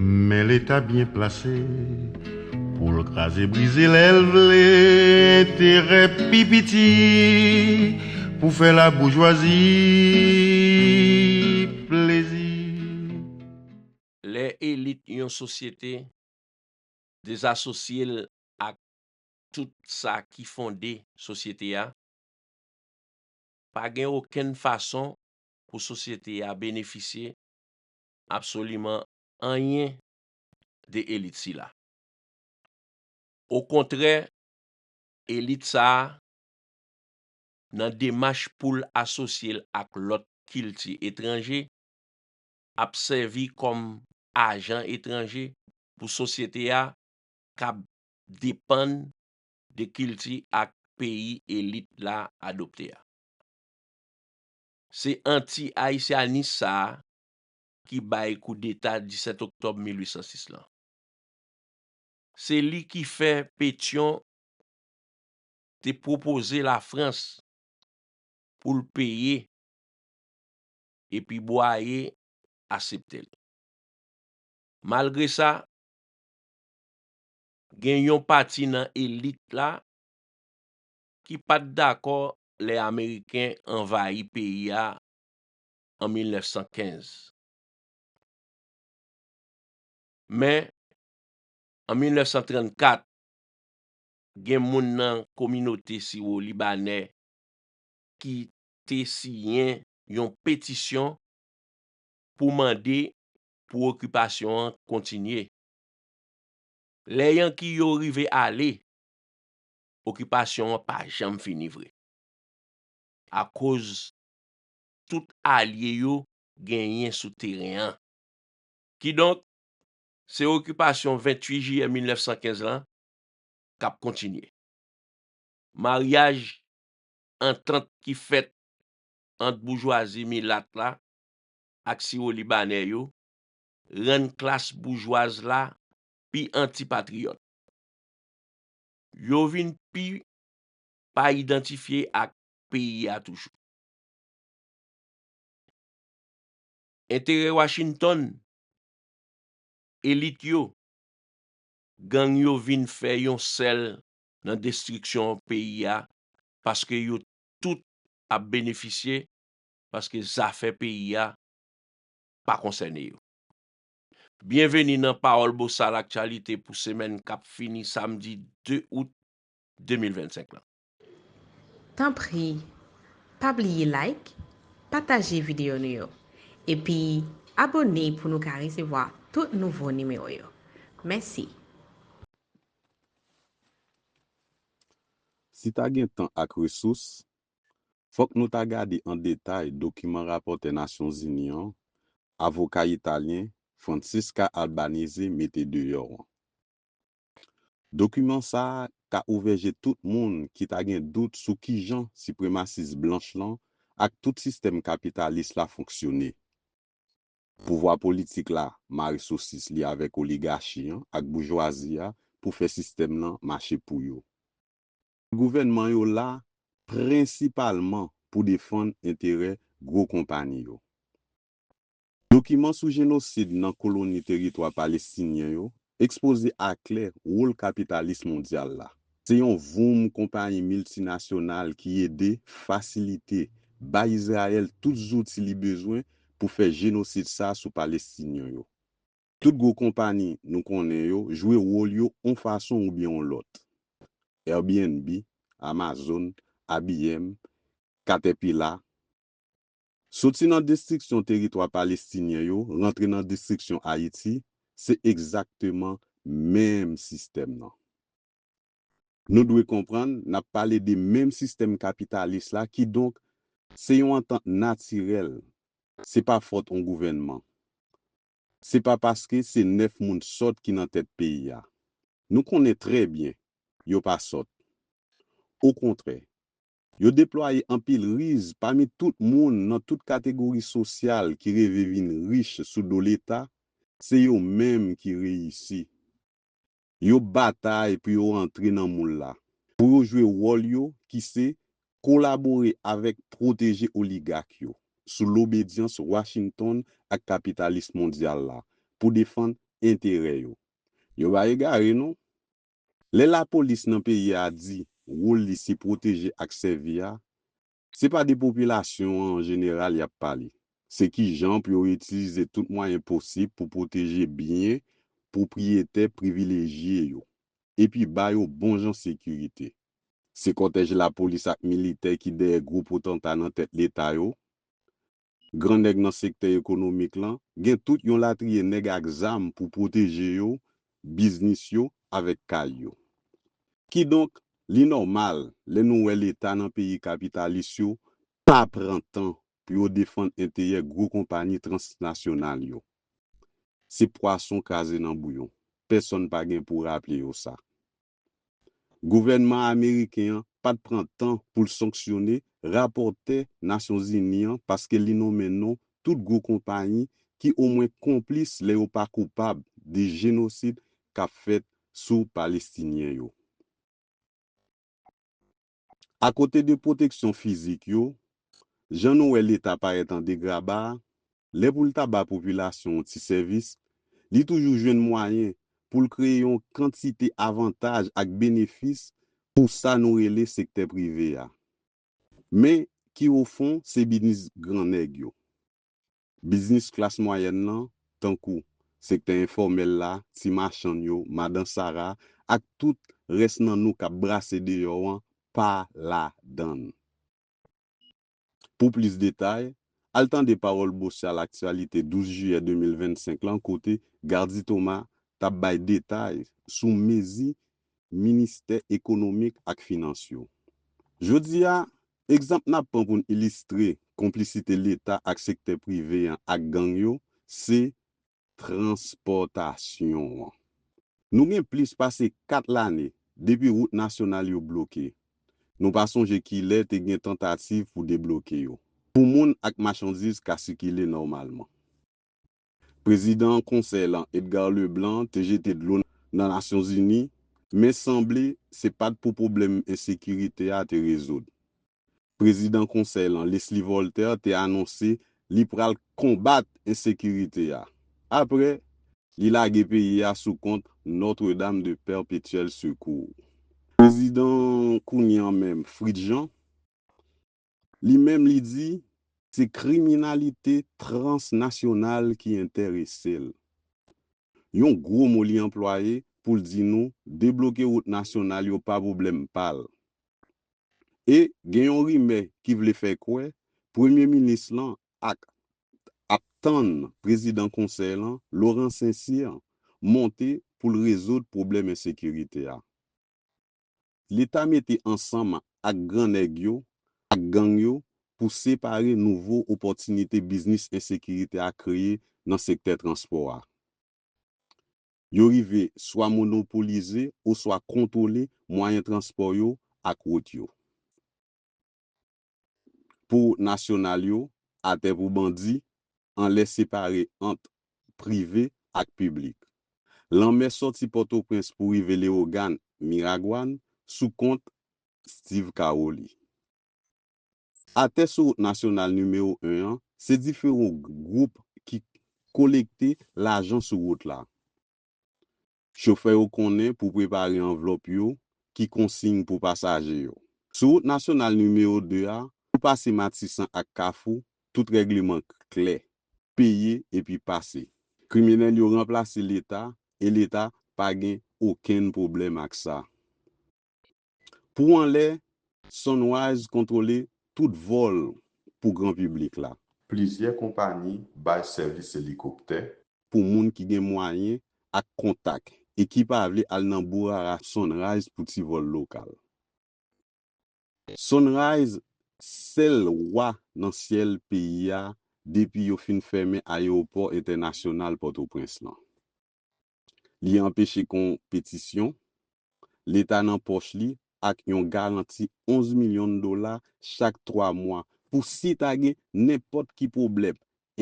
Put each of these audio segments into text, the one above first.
Men leta byen plase pou l kraze brize lè l vle enterè pi piti pou fè laboujwazi plezi. Lè elit yon sosyete dezasosye l ak tout sa ki fonde sosyete a, pa gen okenn fason pou sosyete a benefisye absoliman anyen de elit sila. Okontrè, elit sa a, nan demach pou l asosye l ak lòt kilti etranje, ap sèvi kòm ajan etranje pou sosyete a k ap depann de kilti ak peyi elit la adopte a. Se anti-ayisyanis sa a ki bay koudeta 17 oktòb 1806 lan. Se li ki fè Petyon te pwopoze Lafrans pou l peye epi Bwaye asepte l. Malgre sa, gen yon pati nan elit la ki pa t dakò lè Ameriken anvayi peyi a an 1915. Men, an 1934, gen moun nan kominote siwo-libanè ki te siyen yon petisyon pou mande pou okipasyon an kontinye. Lè Yanki yo rive ale, okipasyon an pa janm fini vre, akoz tout alye yo genyen sou teren an. Kidonk, se okipasyon 28 jiyè 1915 lan k ap kontinye. Maryaj, antant ki fèt ant boujwazi milat la ak siwolibanè yo, rann klas boujwaz la pi antipatriyòt. Yo vin pi pa idantifye ak peyi a toujou. Enterè Washington, elit yo, gang yo vin fè yon sèl nan destriksyon peyi a paske yo tout ap benefisye paske zafè peyi a pa konsène yo. Byenveni nan Pawòl Bosal Aktyalite pou semèn k ap fini samdi 2 out 2025 lan. Tanpri pa bliye like, pataje videyo nou yo, epi abone pou nou ka resevwa tout nouvo nimewo yo. Mèsi! Si ta gen tan ak resous, fòk nou ta gade an detay dokiman rapòtè Nasyonzini an, avoka italyen Francesca Albanese mete deyò an. Dokiman sa a ka ouvè je tout moun ki ta gen dout sou kijan sipremasis blanch lan ak tout sistèm kapitalis la fonksyone. Pouvwa politik la mare sosis li avèk oligachi an ak boujwazi a pou fè sistèm lan mache pou yo. Ti gouvènman yo la prensipalman pou defann enterè gwo konpani yo. Dokiman sou jenosid nan koloni teritwa palestinyen yo ekspoze aklè wòl kapitalis mondyal la. Se yon voum konpayi miltinasyonal ki ede, fasilite, bay Izrayèl tout zouti li bezwen pou fè jenosid sa sou Palestinyen yo. Tout gwo konpani nou konnen yo jwe wòl yo on fason oubyen on lòt. Airbnb, Amazon, IBM, Caterpillar. Soti nan destriksyon teritwa Palestinyen yo rantre nan destriksyon Ayiti, se egzakteman menm sistèm nan. Nou dwe konprann n ap pale de menm sistèm kapitalis la kidonk se yon antant natirèl, se pa fòt on gouvènman, se pa paske se 9 moun sòt ki nan tèt peyi a. Nou konnen trè byen yo pa sòt. Okontrè, Yo deplwaye anpil riz pami tout moun nan tout kategori sosyal ki reve vin rich sou do leta, se yo menm ki reyisi. Yo batay pou yo antre nan moul la, pou yo jwe wòl yo ki se kolabore avèk pwoteje oligak yo, sou lobedyans Washington ak kapitalis mondyal la, pou defann enterè yo. Yo pa egare non. Lè lapolis nan peyi a di wol li se pwoteje ak sèvi a, se pa de popilasyon an an jeneral y ap pale. Se ki jan pou yo itilize tout mwayen posib pou pwoteje byen pwopriyetè privilejye yo, epi ba yo bon jan sekirite. Se kòtèj lapolis ak militè ki dèyè gwo potanta nan tèt leta yo, Gran nèg nan sektè ekonomik lan, gen tout yon latriye nèg ak zam pou pwoteje yo, biznis yo, avèk kay yo. Kidonk, li nòmal lè nou wè leta nan peyi kapitalis yo pa pran tan pou yo defann enterè gwo konpani transnasyonal yo. Se pwason kraze nan bouyon, pèsonn pa gen pou raple yo sa. Gouvènman ameriken an pat pran tan pou l sanksyone rapòtè Nasyonzini an paske li nonmen non tout gwo konpayi ki omwen konplis lè yo pa koupab de jenosid k ap fèt sou Palestinyen yo. Akote de pwoteksyon fizik yo, jan nou wè Leta parèt an degraba a, lè pou l ta ba popilasyon yon ti sèvis, li toujou jwenn mwayen pou l kreye yon kantite avantaj ak benefis pou sa nou rele sektè prive a, men ki ofon se biznis gran nèg yo. Biznis klas mwayèn lan, tankou, sektè enfòmèl la, ti machann yo, madan sara, ak tout rès nan nou k ap brase deyò an, pa ladan l. Pou plis detay, al tande Pawòl Bosyal Aktyalite 12 jiyè 2025 lan kote Gardy Thomas t ap bay detay sou mezi Ministè Ekonomik ak Finans yo. Jodi a, Egzanp n ap pran pou n ilistre konplisite Leta ak sektè prive an ak gang yo se transpòtasyon an. Nou gen plis pase 4 lane depi wout nasyonal yo bloke, nou pa sonje kilè te gen tantativ pou debloke yo, pou moun ak machandiz ka sikile nòmalman. Prezidan konsèy lan Edgar Leblanc te jete dlo nan Nasyonzini men sanble se pat pou pwoblèm ensekirite a te rezoud. Prezidan konsèy lan Leslie Voltaire te anonse li pral konbat ensekirite a. Aprè, li lage peyi a sou kont Notre Dame de Perpétuel Secours. Prezidan kounye an menm Fritz Jean Li menm li di, se kriminalite transnasyonal ki enterese l. Yon gwo mo li anplwaye pou l di nou debloke wout nasyonal yo pa pwoblèm pa l. E gen yon rimè ki vle fè kwè premye minis lan ak ap tann prezidan konsèy lan, Laurent Saint-Cyr, monte pou l rezoud pwoblèm ensekirite a. Leta mete ansanm ak gran nèg yo ak gang yo pou separe nouvo opòtinite biznis ensekirite a kreye nan sektè transpò a. Yo rive swa monopolize oswa kontwole mwayen transpò yo ak wout yo. pou nasyonal yo, atè pou bandi, anlè separe ant prive ak piblik. Lanmè sòti Pòtoprens pou rive Lewogàn, Miragwàn, sou kont Steve Caroli. Atè sou wout nasyonal nimewo 1 an, se diferon gwoup ki kolekte lajan sou wout la. Chofè yo konnen pou prepare anvlòp yo ki konsiy pou pasaje yo. Sou wout nasyonal nimewo 2 a, pou pase Matisan ak Kafou, tout règleman klè. Peye epi pase. Kriminèl yo ranplase Leta e Leta pa gen okenn pwoblèm ak sa. Pou anlè, Sunrise kontwole tout vòl pou gran piblik la. Plizyè konpani bay sèvis elikoptè. Pou moun ki gen mwayen ak kontak e ki pa vle al nan bourara Sunrise pou ti vòl lokal. Sunrise sèl wa nan syèl peyi a depi yo fin fèmen ayewopò entènasyonal Pòtoprens lan. Li anpeche kon petisyon, Leta nan pòch li ak yon garanti 11 milyon dola chak twa mwa pou si ta gen nenpòt ki pwoblèm,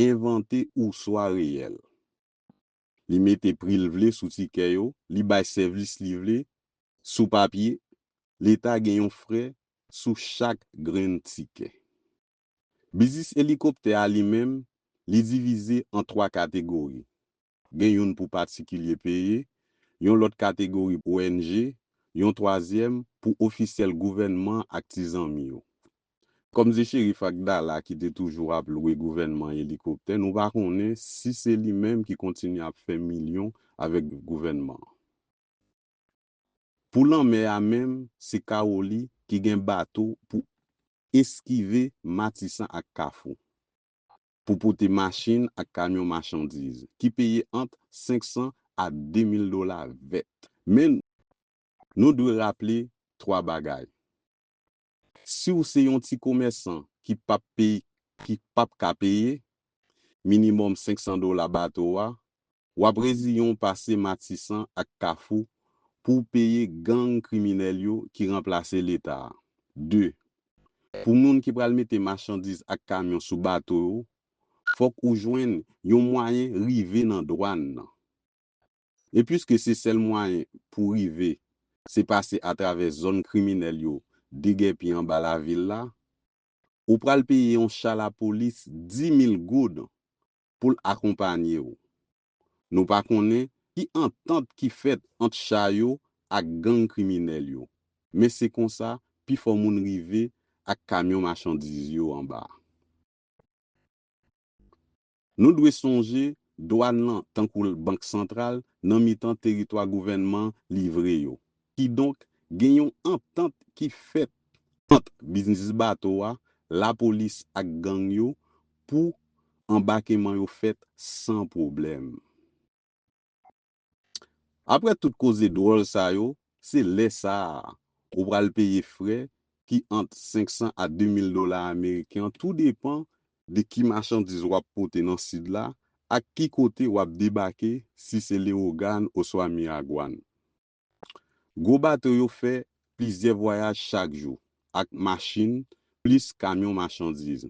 envante ouswa reyèl. Li mete pri l vle sou tikè yo, li bay sèvis li vle sou papye, Leta gen yon frè sou chak grenn tikè. Biznis elikoptè a li menm, li divize an twa kategori, gen youn pou patikilye peye, yon lòt kategori pou ONG, yon twazyèm pou ofisyèl gouvènman an ak ti zanmi yo. Kòm se Cherif Akdala ki te toujou ap lwe gouvènman elikoptè, nou pa konnen si se li menm ki kontinye ap fè milyon avèk gouvènman an. Pou lanmè a menm, se Kawoli ki gen bato pou eskive Matisan ak Kafou. pou pote machin ak kamyon machandiz, ki peye ant 500 a 2000 dola vèt. Men, nou dwe raple 3 bagay. Si w se yon ti komèsan ki pap peye, ki pap ka peye, minimòm 500 dola bato a, W ap reziyen w pase Matisan ak Kafou pou w peye gang kriminèl yo ki ranplase Leta a. 2, Pou moun ki pral mete machandiz ak kamyon sou bato yo, fòk ou jwenn yon mwayen rive nan dwàn nan. E piske se sèl mwayen pou w rive se pase atravè zòn kriminèl yo degèpi anba lavil la, ou pral peye yon cha lapolis 10 mil goud pou l akonpanye w. Nou pa konnen ki antant ki fèt ant cha yo ak gang kriminèl yo, men se konsa pi fò moun rive ak kamyon machandiz yo anba. Nou dwe sonje dwàn lan tankou bank santral nan mitan teritwa gouvènman livre yo. Kidonk, gen yon antant ki fèt ant biznis bato a, lapolis ak gang yo pou anbakeman yo fèt san pwoblèm. Aprè tout koze dwòl sa yo, se lè sa a ou pral peye frè ki ant 500 a 2 mil dola ameriken tou depan de ki machandiz w ap pote nan Sid la ak ki kote w ap debake si se Lewogàn oswa Miragwàn. Gwo bato yo fè plizyè vwayaj chak jou ak machin plis kamyon machandiz.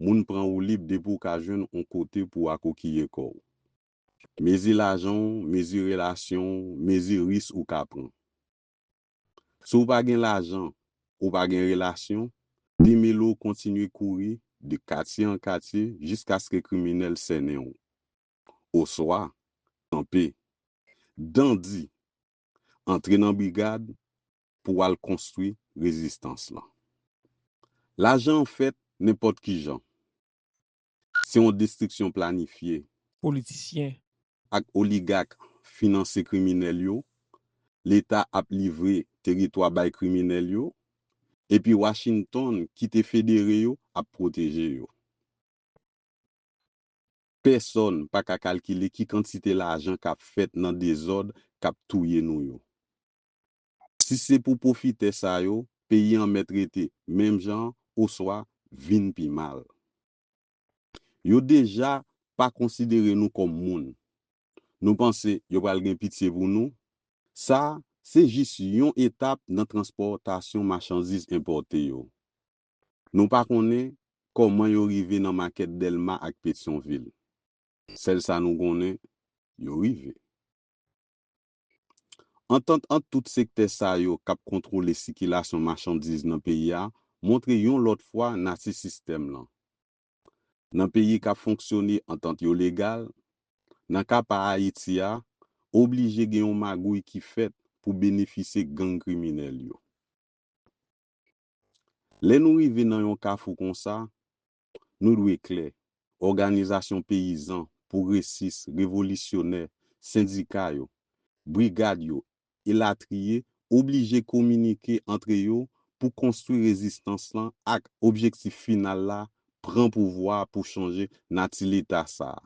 Moun pran woulib depi w ka jwenn on kote pou w akokiye kò w. Mezi lajan w, mezi relasyon w, mezi ris ou ka pran. Si w pa gen lajan, ou pa gen relasyon, demele w kontinye kouri de katye an katye jiskaske kriminèl sènen w. oswa anpe. Dandi antre nan brigad pou al konstwi rezistans lan. Lajan an fèt nenpòt ki jan. Se yon destriksyon planifye. Politisyen. Ak oligak finanse kriminèl yo, Leta ap livre teritwa bay kriminèl yo, epi Washington ki te federe yo ap pwoteje yo. Pèsòn pa ka kalkile ki kantite lajan k ap fèt nan dezòd k ap touye nou yo. Si se pou pwofitè sa yo, peyi an mèt rete menm jan an oswa vin pi mal. Yo deja pa konsidere nou kòm moun. Nou panse yo pral gen pitye pou nou? Sa a, se jis yon etap nan transpòtasyon machandiz enpòte yo. Nou pa konnen kòman yo rive nan makèt Dèlma ak Petyonvil. Sèl sa nou konnen, yo rive. Antant ant tout sektè sa yo k ap kontwole sikilasyon machandiz nan peyi a montre yon lòt fwa nati sistèm lan. Nan peyi k ap fonksyone antant yo legal, nan ka pa Ayiti a, oblije gen yon magouy ki fèt pou benefisye gang kriminèl yo. Lè nou rive nan yon kafou konsa, nou dwe klè, òganizasyon peyizan, pwogresis, revolisyonè, sendika yo, brigad yo, elatriye, oblije kominike antre yo pou konstwi rezistans lan ak objektif final la, pran pouvwa a pou chanje nati Leta sa a.